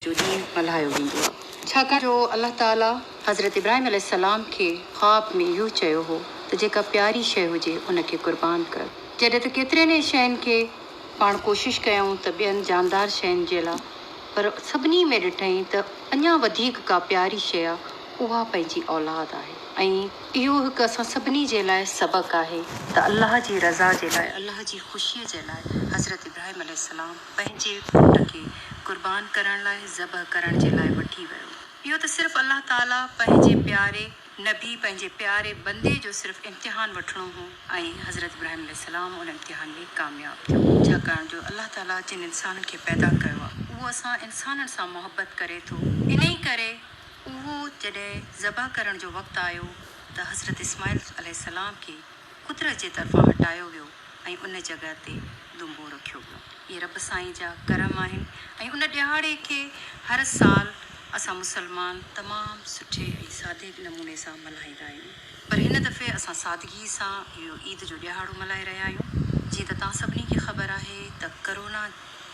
جو ڏينهن ملهايو ويندو آهي، ڇاڪاڻ جو الله تعاليٰ حضرت ابراهيم عليه السلام کي خواب ۾ اهو چيو هو ته جيڪا پياري شيء هجي ان کي قربان ڪر، جڏهن ته ڪيترين ئي شين کي پاڻ ڪوشش ڪيائون ته ٻين جاندار شين جي لاء پر سڀني ۾ ڏٺائين ته اڃا وڌيڪ ڪا پياري شيء اها پنهنجي اولاد آهي ۽ اهو هڪ اسان سڀني جي لاء سبق آهي ته الله جي رضا جي لاء الله جي خوشيء جي لاء حضرت ابراهيم عليه السلام پنهنجي پٽ کي قربان ڪرڻ لاء ذبح ڪرڻ جي لاء وٺي ويو. اهو ته صرف الله تعاليٰ پنهنجي پياري نبي، پنهنجي پياري بندي جو صرف امتحان وٺڻو هو ۽ حضرت ابراهيم عليه السلام ان امتحان ۾ ڪامياب ٿيو. ڇاڪاڻ جو الله تعاليٰ جن انسانن کي پيدا ڪيو آهي اهو اسان انسانن سان محبت ڪري ٿو انهي ڪري اهو جڏهن ذبح ڪرڻ جو وقت آيو ته حضرت اسماعيل عليه السلام کي قدرت جي طرفان هٽايو ويو ۽ ان جڳهه تي دنبو رکيو ويو. اهي رب سائين جا ڪرم آهن ۽ ان ڏهاڙي کي هر سال اسان مسلمان تمام سٺي ۽ سادي نموني سان ملهائيندا آهيون. پر هن دفعي اسان سادگي سان اهو عيد جو ڏهاڙو ملهائي رهيا آهيون. جيئن ته توهان سڀني کي خبر آهي ته ڪرونا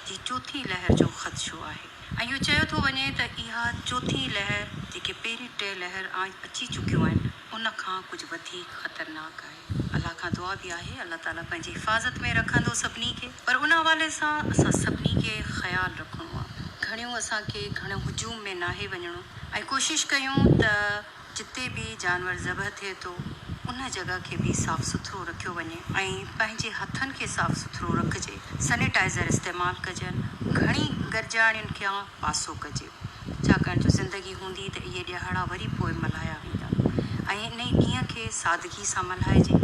جي چوٿين لهر جو خدشو آهي ۽ اهو چيو ٿو وڃي ته اها چوٿين لهر جيڪي پهرين ٽي لهر آڻ اچي چڪيون آهن، ان کان ڪجهه وڌيڪ خطرناڪ آهي. الله کان دعا به آهي الله تعالي پنهنجي حفاظت ۾ رکندو سڀني کي پر ان حوالي سان اسان سڀني کي خيال رکڻو آهي. گهڻيون اسان کي گهڻو هجوم ۾ ناهي وڃڻو ۽ ڪوشش ڪيون ته جتي به جانور ذبح ٿئي ٿو ان جڳهه کي به صاف سٿرو رکيو وڃي ۽ پنهنجي هٿن کي صاف سٿرو رکجي سنيٽائزر استعمال ڪجن گهڻي گرجاڻين کان پاسو ڪجي. ڇاڪاڻ جو زندگي هوندي ته اهي ڏيهاڙا وري پوء ملهايا ويندا ۽ انهي ڏينهن کي سادگي سان ملهائجي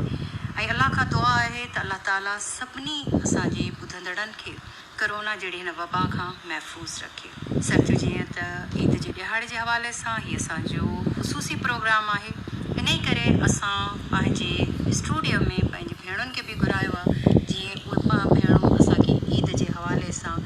۽ الله کان دعا آهي ته الله تعالي سڀني اسان جي ٻڌندڙن کي ڪرونا جهڙي هن وبا کان محفوظ رکي. سرجو جيئن ته عيد جي ڏيهاڙي جي حوالي سان هي اسان جو خصوصي پروگرام آهي انهي ڪري اسان پنهنجي اسٽوڊيو ۾ پنهنجي ڀيڻن کي به گهرايو آهي جيئن اهي ڀيڻون اسان کي عيد جي حوالي سان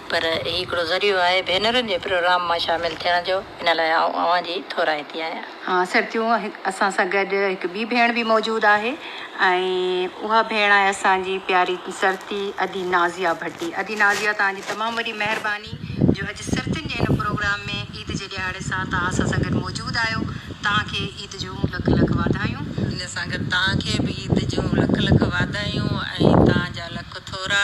پر هي هڪڙو ذريعو آهي ڀينرن جي پروگرام مان شامل ٿيڻ جو، ان لاء آئون اوهان جي ٿورائتي آهيان. ها سرتيون اسان سان گڏ هڪ ٻي ڀيڻ به موجود آهي ۽ اها ڀيڻ آهي اسان جي پياري سرتي ادي نازيا ڀٽي. ادي نازيا توهان جي تمام وڏي مهرباني جو اڄ سرتين جي هن پروگرام ۾ عيد جي ڏهاڙي سان توهان اسان سان گڏ موجود آهيو. توهان کي عيد جون لک لک واڌايون. ان سان گڏ توهان کي به عيد جون لک لک واڌايون ۽ توهان جا لک ٿورا.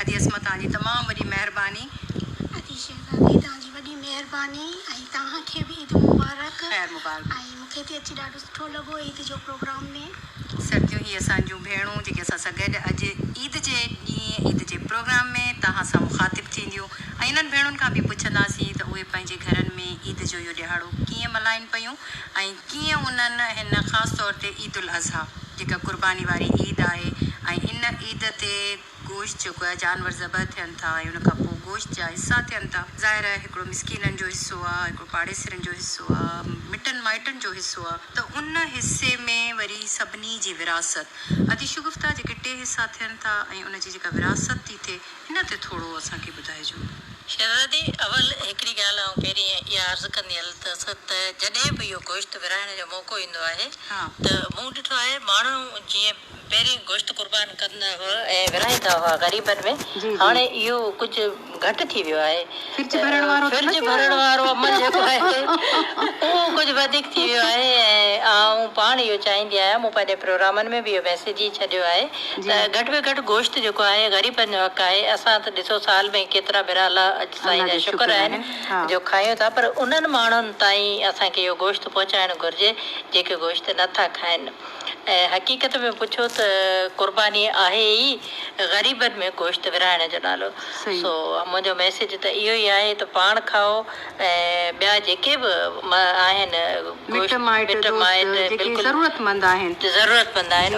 ادي عصمت توهان جي تمام وڏي مهرباني. ادي شهزادي توهان جي وڏي مهرباني ۽ توهان کي به عيد مبارڪ. خير مبارڪ. ۽ مون کي ٿي اچي ڏاڍو سٺو لڳو عيد جو پروگرام ۾. سرتيون هي اسان جون ڀيڻون جيڪي اسان سان گڏ اڄ عيد جي ڏينهن عيد جي پروگرام ۾ توهان سان مخاطب ٿينديون ۽ انهن ڀيڻن کان به پڇنداسين ته اهي پنهنجي گهرن ۾ عيد جو اهو ڏهاڙو ڪيئن ملهائين پيون ۽ ڪيئن انهن هن خاص طور تي عيد الاضحيٰ جيڪا قرباني واري عيد آهي ۽ ان عيد تي گوشت جيڪو آهي جانور ذبح ٿين ٿا ۽ ان کان پوء گوشت جا حصا ٿين ٿا. ظاهر آهي هڪڙو مسڪينن جو حصو آهي، هڪڙو پاڙيسرين جو حصو آهي، مٽن مائٽن جو حصو آهي ته ان حصي ۾ وري سڀني جي وراثت ادي شگفته جيڪي ٽي حصا ٿين ٿا ۽ ان جي جيڪا وراثت ٿي ٿئي ان تي ٿورو اسان کي ٻڌائجو. شهزادي اول هڪڙي ڳالهه آئون پهرين اها عرض ڪندي هلندس ته جڏهن به اهو گوشت ورهائڻ جو موقعو ايندو آهي ته مون ڏٺو آهي ماڻهو جيئن پهرين گوشت قربان ڪندا هئا ۽ ورهائيندا هئا غريبن ۾ هاڻي اهو ڪجهه گهٽ ٿي ويو آهي. فرج ڀرڻ وارو ته نه ٿيو آهي. فرج ڀرڻ وارو عمل جيڪو آهي اهو ڪجهه وڌيڪ ٿي ويو آهي ۽ آئون پاڻ اهو چاهيندي آهيان مون پنهنجي پروگرامن ۾ به اهو ميسيج ئي ڇڏيو آهي ته گهٽ ۾ گهٽ گوشت جيڪو آهي غريبن جو حق آهي اسان ته ڏسو سال ۾ ڪيترا ڀيرا الله اڄ سائين جا شڪر آهن جو کايون ٿا پر انهن ماڻهن تائين اسان کي اهو گوشت پهچائڻ گهرجي جيڪي گوشت نه ٿا کائن. ۽ حقيقت ۾ پڇو ته قرباني آهي ئي غريبن ۾ گوشت ورهائڻ جو نالو. سو منهنجو ميسيج ته اهو ئي آهي ته پاڻ کائو ۽ ٻيا جيڪي به آهن گوشت مٽ مائٽ بلڪل ضرورتمند آهن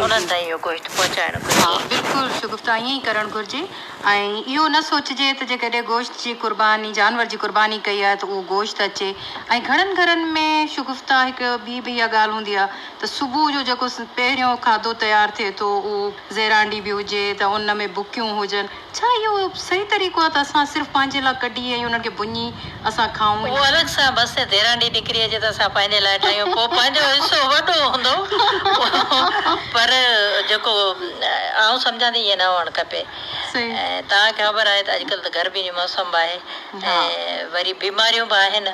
انهن تائين اهو گوشت پهچائڻ گهرجي. ها بلڪل شگفته ائين ئي ڪرڻ گهرجي ۽ اهو نه سوچجي ته جيڪڏهن گوشت جي قرباني جانور جي قرباني ڪئي آهي ته اهو گوشت اچي ۽ گهڻن گهرن ۾ شگفته هڪ ٻي به اها ڳالهه هوندي آهي ته صبح جو جيڪو پهريون کاڌو تيار ٿئي ٿو اهو زيرانڊي به هجي ته ان ۾ ڀڪيون هجن ڇا اهو صحيح طريقو آهي ته اسان صرف پنهنجي لاء ڪڍي ۽ انهن کي ڀڃي اسان کائون. اهو الڳ سان بس ته زيرانڊي نڪري اچي ته اسان پنهنجي لاء ٺاهيون پوء پنهنجو حصو وڏو هوندو پر جيڪو آئون سمجهان ٿي ائين نه هئڻ کپي ۽ توهان کي خبر آهي ته اڄڪلهه ته گرمي جو موسم به آهي ۽ وري بيماريون به آهن.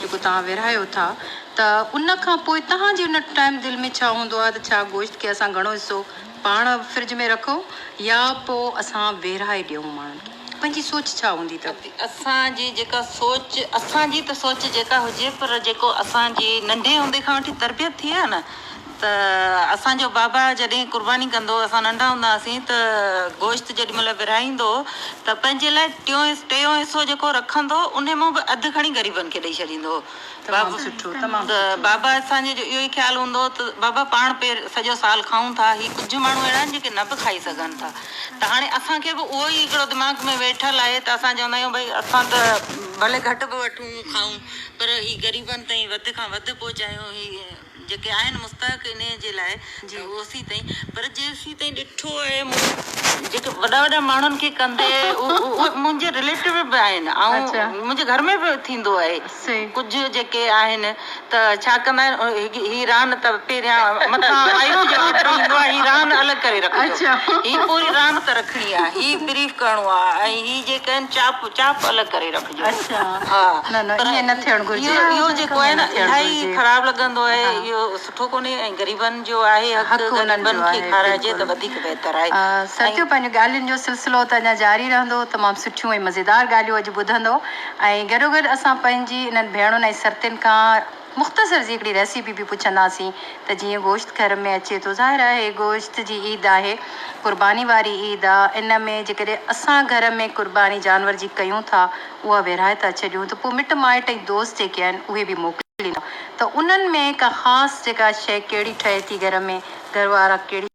جيڪو توهان ورهايو ٿا ته ان کان پوء توهان جي ان ٽائيم دل ۾ ڇا هوندو آهي ته ڇا گوشت کي اسان گهڻو حصو پاڻ فرج ۾ رکون يا پوء اسان ورهائي ڏيون ماڻهن کي پنهنجي سوچ ڇا هوندي ته اسان جي جيڪا سوچ اسان جي ته سوچ جيڪا هجي پر جيڪو اسان جي ننڍي هوندي کان وٺي تربيت ٿي آهي نه. ته اسان جو بابا جڏهن قرباني ڪندو هو، اسان ننڍا هوندا هئاسين ته گوشت جيڏي مهل ورهائيندو هو ته پنهنجي لاء ٽيون ٽيون حصو جيڪو رکندو هو انهي مان به اڌ کڻي غريبن کي ڏئي ڇڏيندو هو ته بابا اسان جو اهو ئي خيال هوندو هو ته بابا پاڻ پير سڄو سال کائون ٿا هي ڪجهه ماڻهو اهڙا آهن جيڪي نه به کائي سگهن ٿا ته هاڻي اسان کي به اهو ئي هڪڙو دماغ ۾ ويٺل آهي ته اسان چوندا آهيون ڀئي اسان ته ڀلي گهٽ به وٺون کائون پر هي غريبن تائين وڌ کان وڌ پهچايون هي جيڪي آهن مستحق انهيء جي لاء جي اوسين تائين پر جي اوسين تائين ڏٺو آهي منهنجي جيڪي وڏا وڏا ماڻهن کي ڪندي اهي منهنجي رليٽيو به آهن ۽ منهنجي گهر ۾ به ٿيندو آهي ڪجهه جيڪي آهن ته ڇا ڪندا آهن هي ران ته پهريان مٿان آئينو جواب ڏئي ويندو آهي هي ران الڳ ڪري رکجو هي پوري ران ته رکڻي آهي هي بريف ڪرڻو آهي ۽ هي جيڪي آهن چاپ چاپ الڳ ڪري رکجو. اهو جيڪو آهي نه الائي خراب لڳندو آهي اهو سٺو ڪونهي ۽ غريبن جو آهي حق غريبن کي کارائجي ته وڌيڪ بهتر آهي. سرتيو پنهنجو ڳالهين جو سلسلو ته اڃا جاري رهندو تمام سٺيون ۽ مزيدار ڳالهيون اڄ ٻڌندو ۽ گڏوگڏ اسان پنهنجي انهن ڀيڻن ۽ سرتين کان مختصر سي هڪڙي ريسيپي به پڇنداسين ته جيئن گوشت گهر ۾ اچي ٿو ظاهر آهي گوشت جي عيد آهي قرباني واري عيد آ ان ۾ جيڪڏهن اسان گهر ۾ قرباني جانور جي ڪيون ٿا اها ورهائي ٿا ڇڏيون ته پوء مٽ مائٽ ۽ دوست جيڪي آهن اهي به موڪليندا ته انهن ۾ ڪا خاص جيڪا شيء ڪهڙي ٺهي ٿي گهر ۾ گهر وارا ڪهڙي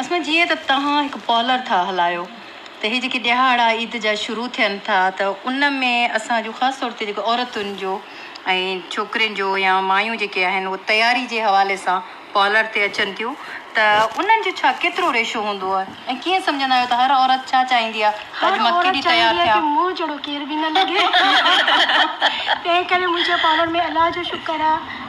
اس ۾ جيئن ته توهان هڪ پارلر ٿا هلايو ته هي جيڪي ڏهاڙا عيد جا شروع ٿين ٿا ته ان ۾ اسان جو خاص طور تي جيڪو عورتن جو ۽ ڇوڪرين جو يا مايون جيڪي آهن اهي تياري جي حوالي سان پارلر تي اچن ٿيون ته انهن جو ڇا ڪيترو ريشو هوندو آهي ۽ ڪيئن سمجهندا آهيو ته هر عورت ڇا چاهيندي آهي ته اڄ مان ڪيڏي تيار ٿيان. هر عورت چاهيندي آهي ته مون جهڙو ڪير به نه لڳي تنهن ڪري منهنجي پارلر ۾ الله جو شڪر آهي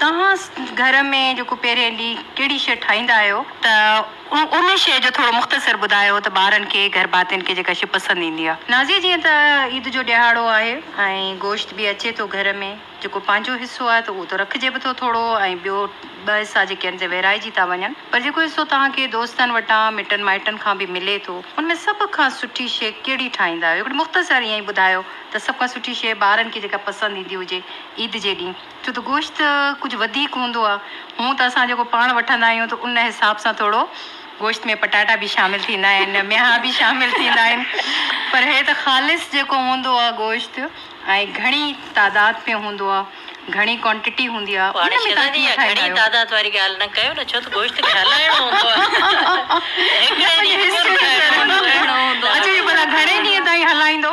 توهان گهر ۾ جيڪو پهرين ڏينهن ڪهڙي شيء ٺاهيندا آهيو ته ان شيء جو ٿورو مختصر ٻڌايو ته ٻارن کي گهر ڀاتين کي جيڪا شيء پسند ايندي آهي. نازيه جيئن ته عيد جو ڏهاڙو آهي ۽ گوشت به اچي ٿو گهر ۾ جيڪو پنهنجو حصو آهي ته اهو ته رکجي به ٿو ٿورو ۽ ٻيو ٻه حصا جيڪي آهن سي ورهائجي ٿا وڃن پر جيڪو حصو توهان کي دوستن وٽان مٽن مائٽن کان به ملي ٿو ان ۾ سڀ کان سٺي شيء ڪهڙي ٺاهيندا آهيو هڪڙي مختصر ائين ئي ٻڌايو ته سڀ کان سٺي شيء ٻارن کي جيڪا پسند ايندي هجي عيد جي ڏينهن ڇو ته گوشت ڪجهه وڌيڪ هوندو آهي. هونء ته اسان جيڪو پاڻ وٺندا آهيون ته ان حساب سان ٿورو گوشت ۾ پٽاٽا به شامل ٿيندا آهن، ميها به شامل ٿيندا آهن پر هي ته خالص جيڪو هوندو آهي گوشت ۽ گهڻي تعداد ۾ هوندو آهي، گهڻي ڪوانٽٽي هوندي آهي ان ۾ تهان ڪيئن ٺاهيندا آهيو؟ پاڻ شهزادي اها گهڻي تعداد واري ڳالهه نه ڪيو نه ڇو ته گوشت کي هلائڻو هوندو آهي هڪڙي ڏينهن ۾ ڪونه ٺهڻو هوندو آهي. اچو اهو ڀلا گهڻي ڏينهن تائين هلائيندو؟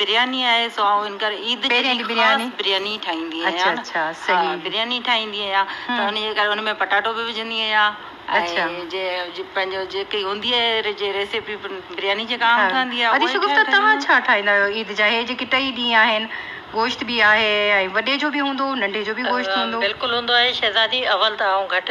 برياني آهي سو آئون ان ڪري عيد جي ڏينهن خاص برياني ٺاهيندي آهيان ها برياني ٺاهيندي آهيان ته ان جي ڪري ان ۾ پٽاٽو به وجهندي آهيان ۽ جي پنهنجو جيڪي هوندي آهي جي ريسيپي برياني جي ڪا ٺهندي آهي اڄ شگفته توهان ڇا ٺاهيندا آهيو عيد جا هي جيڪي ٽئي ڏينهن آهن گوشت به آهي ۽ وڏي جو به هوندو ننڍي جو به گوشت هوندو بلڪل هوندو آهي شهزادي اول ته آئون گهٽ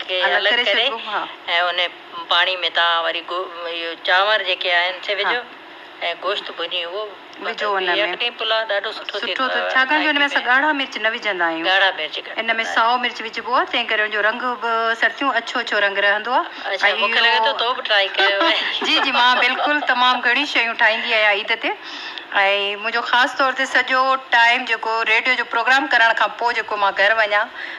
کي الڳ ڪري ۽ ان پاڻي ۾ توهان وري چانور جيڪي آهن سي وجهو ۽ گوشت ڀڃي اهو وجهو ان ۾ يخني پلاء ڏاڍو سٺو ٿيندو آهي ڇاڪاڻ جو ان ۾ اسان ڳاڙها مرچ نه وجهندا آهيون ڳاڙها مرچ ان ۾ سائو مرچ وجهبو آهي تنهن ڪري ان جو رنگ به سرتيون اڇو اڇو رنگ رهندو آهي اچا مونکي لڳي ٿو تو به ٽرائي ڪيو آهي جي جي مان بلڪل تمام گهڻيون شيون ٺاهيندي آهيان عيد تي ۽ منهنجو خاص طور تي سڄو ٽائيم جيڪو ريڊيو جو پروگرام ڪرڻ کان پوء جيڪو مان گهر وڃان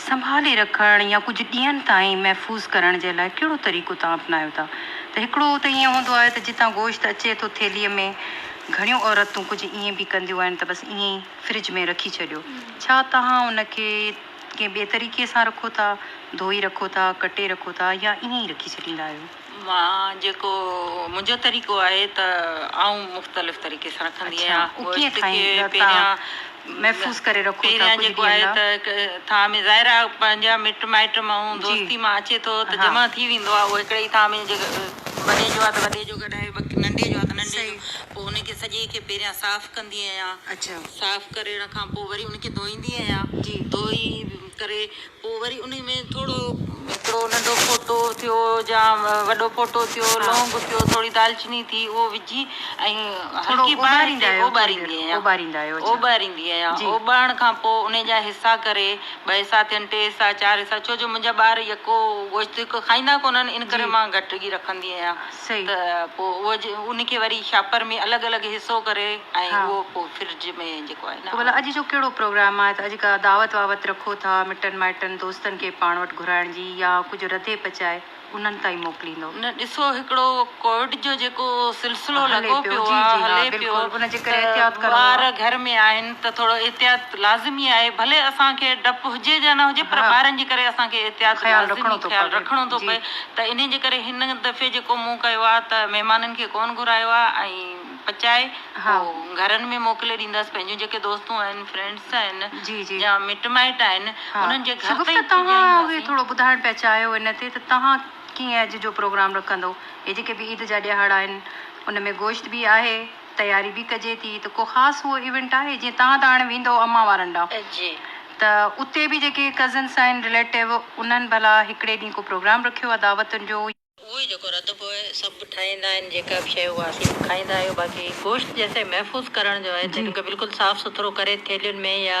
سنڀالي رکڻ يا ڪجهه ڏينهن تائين محفوظ ڪرڻ جي لاء ڪهڙو طريقو توهان اپنايو ٿا ته هڪڙو ته ائين هوندو آهي ته جتان گوشت اچي ٿو ٿيلهي ۾ گهڻيون عورتون ڪجهه ائين به ڪنديون آهن ته بس ائين ئي فرج ۾ رکي ڇڏيو ڇا توهان ان کي ڪنهن ٻئي طريقي سان رکو ٿا ڌوئي رکو ٿا ڪٽي رکو ٿا يا ائين ئي رکي ڇڏيندا آهيو. مان جيڪو منهنجو طريقو آهي ته آئون مختلف طريقي سان رکندي آهيان. اهو ڪيئن ٺاهين لتا؟ محفوظ ڪري رکو ٿا ڪجهه ڏينهن لاء. پهريان جيڪو آهي ته ٿانء ۾ ظاهر آهي پنهنجا مٽ مائٽ ماڻهو دوستي مان اچي ٿو ته جمع ٿي ويندو آهي اهو هڪڙي ئي ٿانء ۾ جيڪو وڏي جو آهي ته وڏي جو ڪڍائي باقي ننڍي جو آهي ته ننڍي جو پوء ان کي سڄي کي پهريان صاف ڪندي آهيان صاف ڪرڻ کان پوء وري ان کي ڌوئيندي آهيان ڌوئي ڪري پوء وري انهي ۾ ٿورو هڪڙو ننڍو ڦوٽو ٿيو يا وڏو ڦوٽو ٿيو، لونگ ٿيو، ٿوري دالچيني ٿي اهو وجهي ۽ هلڪي باهه تي اوٻاريندي آهيان. اوٻاريندي آهيان. اوٻارڻ کان پوء انهي جا حصا ڪري ٻه حصا ٿين، ٽي حصا، چار حصا ڇو جو منهنجا ٻار يڪو گوشت هڪ کائيندا ڪونهن ان ڪري مان گهٽ ئي رکندي آهيان. ته پوء ان کي وري شاپر ۾ الڳ الڳ حصو ڪري ۽ اهو پوء فرج ۾ جيڪو آهي نه. ڀلا اڄ جو ڪهڙو پروگرام آهي ته اڄ ڪا دعوت واوت رکو ٿا مٽن مائٽن دوستن کي پاڻ وٽ گهرائڻ جي يا ڪجهه رڌي پچائي انهن تائين موڪليندو. نه ڏسو هڪڙو ڪووڊ جو جيڪو سلسلو لڳو پيو آهي هلي پيو ته ٻار گهر ۾ آهن ته ٿورو احتياط لازمي آهي ڀلي اسان کي ڊپ هجي جا نه هجي پر ٻارن جي ڪري اسان کي احتياط لازمي خيال رکڻو ٿو پوي. ته انهي جي ڪري هن دفعي جيڪو مون ڪيو آ ته مهمانن کي ڪون گهرايو آ ۽ پچائي پو گهرن ۾ موڪلي ڏينداس پنهنجون جيڪي دوستون آهن فرينڊس آهن يا مٽ مائٽ آهن انهن جي گهر تائين پڄائينداسين. شگفته توهان به ٿورو ٻڌائڻ پيا چاهيو ان تي ته توهان ڪيئن اڄ جو پروگرام رکندو هي جيڪي به عيد جا ڏيهاڙا آهن ان ۾ گوشت به آهي. تياري به ڪجي ٿي ته ڪو خاص اهو ايونٽ آهي جيئن تهان ته هاڻي ويندؤ اماء وارن ڏانهن ته اتي به جيڪي ڪزنس آهن رليٽو انهن ڀلا هڪڙي ڏينهن ڪو پروگرام رکيو آهي دعوتن جو. اهو ئي جيڪو رڌبو آهي سڀ ٺاهيندا آهن جيڪا به شيء اها سيء کائيندا آهيو باقي گوشت جيسين محفوظ ڪرڻ جو آهي تنهن کي بلڪل صاف سٿرو ڪري ٿيلهين ۾ يا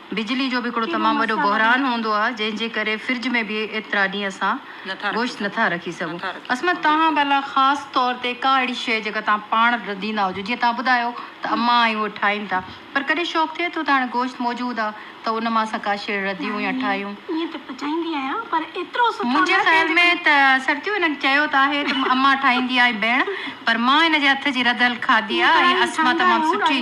بجلي جو به هڪڙو تمام وڏو بحران هوندو آهي جنهن جي ڪري فرج ۾ به ايترا ڏينهن اسان گوشت نٿا رکي سگهون. عصمت توهان ڀلا خاص طور تي ڪا اهڙي شيء جيڪا توهان پاڻ رڌيندا هجو جيئن توهان ٻڌايو ته امان ۽ هوء ٺاهين ٿا پر ڪڏهن شوق ٿئي ٿو ته هاڻي گوشت موجود آهي ته ان مان اسان ڪا شيء رڌيون يا ٺاهيون؟ منهنجي خيال ۾ ته سرتيو هن چيو ته آهي ته امان ٺاهيندي آهي ڀيڻ پر مان هن جي هٿ جي رڌل کاڌي آهي ۽ عصمت تمام سٺي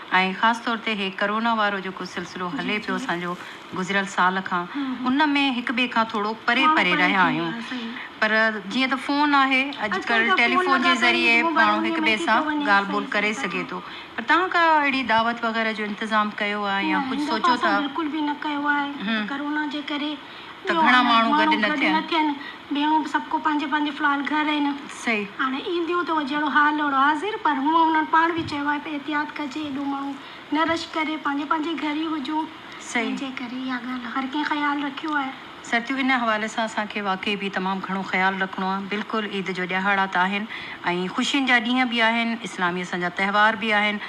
۽ خاص طور تي هي ڪرونا وارو جيڪو سلسلو هلي پيو اسان جو گذريل سال کان ان ۾ هڪ ٻئي کان ٿورو پري پري رهيا آهيون پر جيئن ته فون آهي اڄ ڪلهه ٽيليفون جي ذريعي ماڻهو هڪ ٻئي سان ڳالهه ٻولهه ڪري سگهي ٿو پر توهان ڪا اهڙي دعوت وغيره جو انتظام ڪيو آهي يا ڪجهه سوچيو ٿا. ته گهڻا ماڻهو گڏ نه ٿين. ڀيڻون به سڀڪو پنهنجي پنهنجي في الحال گهر آهن. هاڻي اينديون ته اهو جهڙو حال اهڙو حاضر پر هونء هنن پاڻ به چيو آهي ته احتياط ڪجي ايڏو ماڻهو نه رش ڪري پنهنجي پنهنجي گهر ئي هجون تنهنجي ڪري اها ڳالهه هر ڪنهن خيال رکيو آهي. سرتيون ان حوالي سان اسان کي واقعي به تمام گهڻو خيال رکڻو آهي بلڪل عيد جو ڏيهاڙا ته آهن ۽ خوشين جا ڏينهن به آهن اسلامي اسان جا تهوار به آهن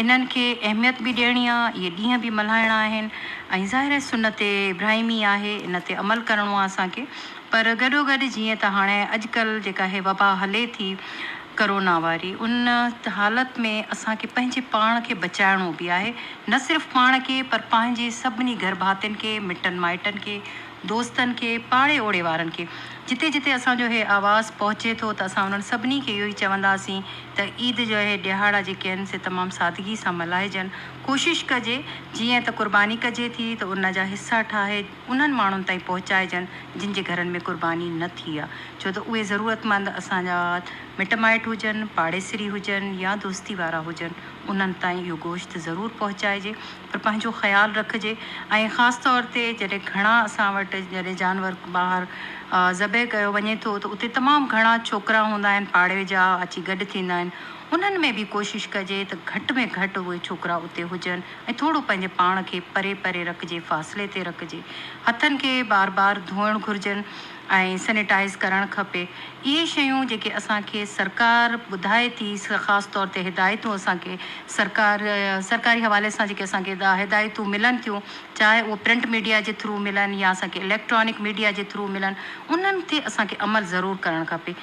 انهن کي اهميت به ڏيڻي آهي اهي ڏينهن به ملهائڻا آهن. ۽ ظاهر آهي سنت ابراهيمي آهي ان تي عمل ڪرڻو آهي اسان کي پر گڏو گڏ جيئن ته هاڻي اڄڪلهه جيڪا هي وبا هلي ٿي ڪرونا واري ان حالت ۾ اسان کي پنهنجي پاڻ کي بچائڻو به آهي نه صرف پاڻ کي پر پنهنجي سڀني گهر ڀاتين کي مٽن مائٽن کي دوستن کي پاڙي اوڙي وارن کي جتي جتي اسان جو هي آواز پهچي ٿو ته اسان انهن سڀني کي اهو ئي چونداسين ته عيد جا هي ڏهاڙا جيڪي آهن سي تمام سادگي سان ملهائجن. ڪوشش ڪجي جيئن ته قرباني ڪجي ٿي ته ان جا حصا ٺاهي انهن ماڻهن تائين پهچائجن جن جي گهرن ۾ قرباني نه ٿي آ ڇو ته اهي ضرورتمند اسان جا مٽ مائٽ هجن پاڙيسري هجن يا دوستي وارا هجن انهن تائين اهو گوشت ضرور پهچائجي پر پنهنجو خيال رکجي ۽ خاص طور تي جڏهن گهڻا اسان وٽ جڏهن جانور ٻاهر ذبح ڪيو وڃي ٿو ته اتي تمام گهڻا ڇوڪرا هوندا آهن پاڙي جا اچي گڏ ٿيندا آهن انهن ۾ به ڪوشش ڪجي ته گهٽ ۾ گهٽ اهي ڇوڪرا اتي هجن ۽ ٿورو پنهنجي پاڻ کي پري پري رکجي فاصلي تي رکجي هٿن کي بار بار ڌوئڻ گهرجن ۽ سنيٽائز ڪرڻ کپي اهي شيون جيڪي اسان کي سرڪار ٻڌائي ٿي خاص طور تي هدايتون اسان کي سرڪار سرڪاري حوالي سان جيڪي اسان کي هدايتون ملن ٿيون چاهي اهي پرنٽ ميڊيا جي ٿرو ملن يا اسان کي اليڪٽرانڪ ميڊيا جي ٿرو ملن انهن تي اسان کي عمل ضرور ڪرڻ کپي.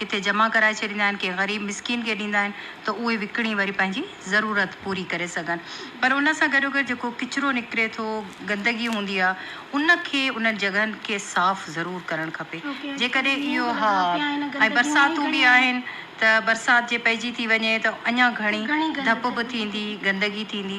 ڪٿي جمع ڪرائي ڇڏيندا آهن ڪنهن غريب مسڪين کي ڏيندا آهن ته اهي وڪڻي وري پنهنجي ضرورت پوري ڪري سگهن پر ان سان گڏوگڏ جيڪو ڪچرو نڪري ٿو گندگي هوندي آهي ان کي انهن جڳهن کي صاف ضرور ڪرڻ کپي جيڪڏهن اهو ها ۽ برساتون به آهن ته برسات جي پئجي ٿي وڃي ته اڃا گهڻي ڌپ به ٿيندي گندگي ٿيندي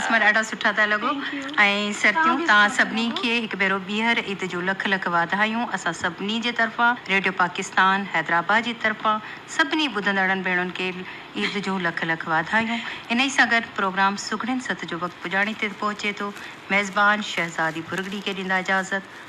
اسمر ڏاڍا سٺا ٿا لڳو ۽ سرتيون توهان سڀني کي هڪ ڀيرو ٻيهر عيد جون لک لک واڌايون اسان سڀني جي طرفان ريڊيو پاڪستان حيدرآباد جي طرفان سڀني ٻڌندڙن ڀيڻن کي عيد جون لک لک واڌايون انهي سان گڏ پروگرام سگهڙين ست جو وقت پڄاڻي تي پهچي ٿو ميزبان شهزاد ڀرڳڙي کي ڏيندا اجازت.